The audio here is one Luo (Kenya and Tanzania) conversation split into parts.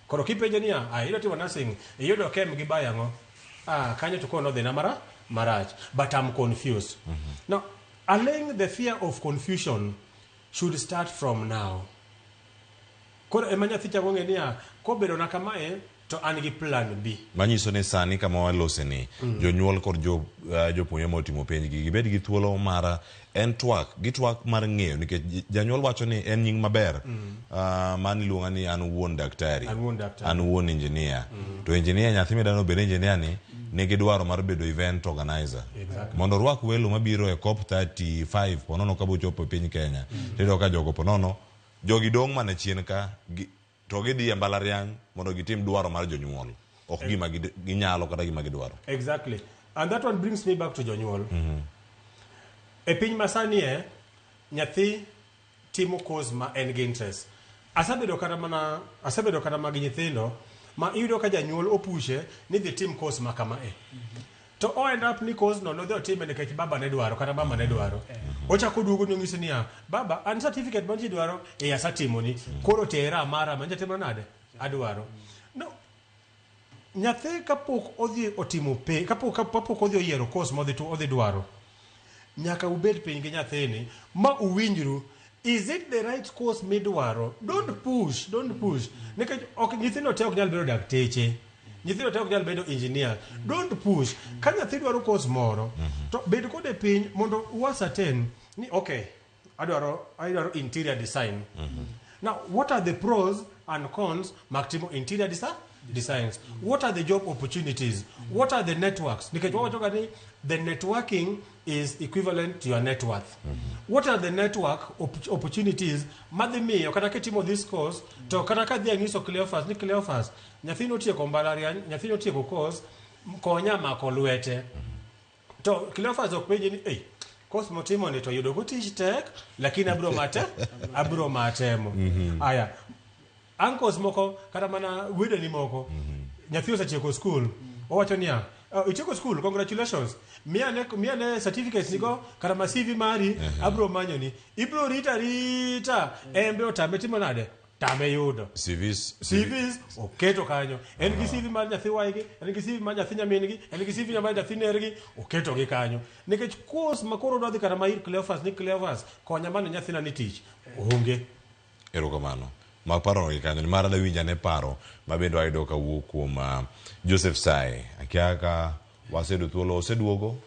Koro kipenje niya, ah, idwa timo nursing, iyudo kem gi baya ang'o? Ah, kanyo to koro nodhina mara marach, but I'm confused. Now, allaying the fear of confusion should start from now. Koro ema nyathi chako ng'e niya, kobedona kamae to an gi plan B. manyiso ni sani kama walose ni jonyuol kod jo- eh, jopuonjre ma otimo penjgi gibed gi thuolo mar en twak gi twak mar ng'eyo nikech j- janyuol wacho ni en nying maber Ah, mano iluonga ni an wuon daktari An wuon daktari. an wuon injinia to injinia nyathi midano obed injinia ni nigi dwaro mar bedo event organizer Exactly. mondo orwak welo mabiro e cop 35 ponono ka bochopo e piny kenya tiyudo ka jogo ponono jogi dong' mana chien ka gi- To gidhi e mbalariany mondo gitim dwaro mar jonyuol, ok eh. gima ginyalo kata gima gidwaro. Exactly. And that one brings me back to jonyuol. Mm -hmm. E piny masani e, nyathi timo course ma en gi interest. Asabedo kata mana, asabedo kata magi nyithindo, ma iyudo ka janyuol opushe ni dhi tim course ma kama e. Mm -hmm. to o end up ni kozno nodhi otime nikech baba ne dwaro kata mama ne dwaro ochako oduogo ni onyisi niya baba an certificate mantie dwaro e asatimoni koro tera amara manja timo nade adwaro no nyathi kapok odhi otimo pe kapok kapok odhi oyiero course modhi tu- odhi dwaro Nyaka ubed piny gi nyathini ma uwinjru is it the right course midwaro. Don't push, don't push. Nikech ok nyithindo te ok nyal bedo dakteche. Nyithindo te ok nyal bedo engineers. Don't push. Ka nyathi dwaro course moro to bed kode piny mondo u ascertain ni okay, adwaro adwaro interior design now what are the pros and cons mag timo interior design designs what are the job opportunities what are the networks nikech wawachoga ni the networking is equivalent to your net worth what are the network op- opportunities madhi miyo kata kitimo this course to kata ka dhi anyiso cleofas ni cleofas nyathini otieko mbalariany nyathini otieko course konya mako lwete To Cleophas ok penje ni, "Ei, kos motimo ni to yudo ko tich tek, lakini abro mate, abro matemo." Aya. Uncles moko kata mana wedeni moko nyathi osetieko skul owacho niya "Oh, itieko skul congratulations miya ne miya ne certificates nigo kata ma CV mari abro manyoni ibro rita rita embe otame timo nade tame yudo CVs, CVs oketo kanyo en gi CV mar nyathi waygi en gi CV mar nyathi nyamingi en gi CV mar nyathi nergi oketo gi kanyo nikech course ma koro dwadhi kata ma ir Cleophas ni Cleophas konya mane nyathina ni tich onge erokamano maparo gi kanyo nimar adawinjo ane paro mabende wayudo kawuok kuom ah, Joseph Sae akia ka waseyudo thuolo oseduogo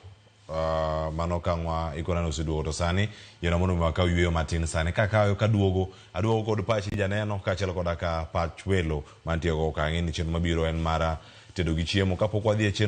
Uh, mano kangwa ikona ni oseduogo to sani yona mondo mi wakaw yueyo matin sani kakayo kaduogo aduogo kod pachi janeno kaachiel koda ka pach welo mantiego kang'e ni chenro mabiro en mara tedo gi chiemo kapok wadhi e chenro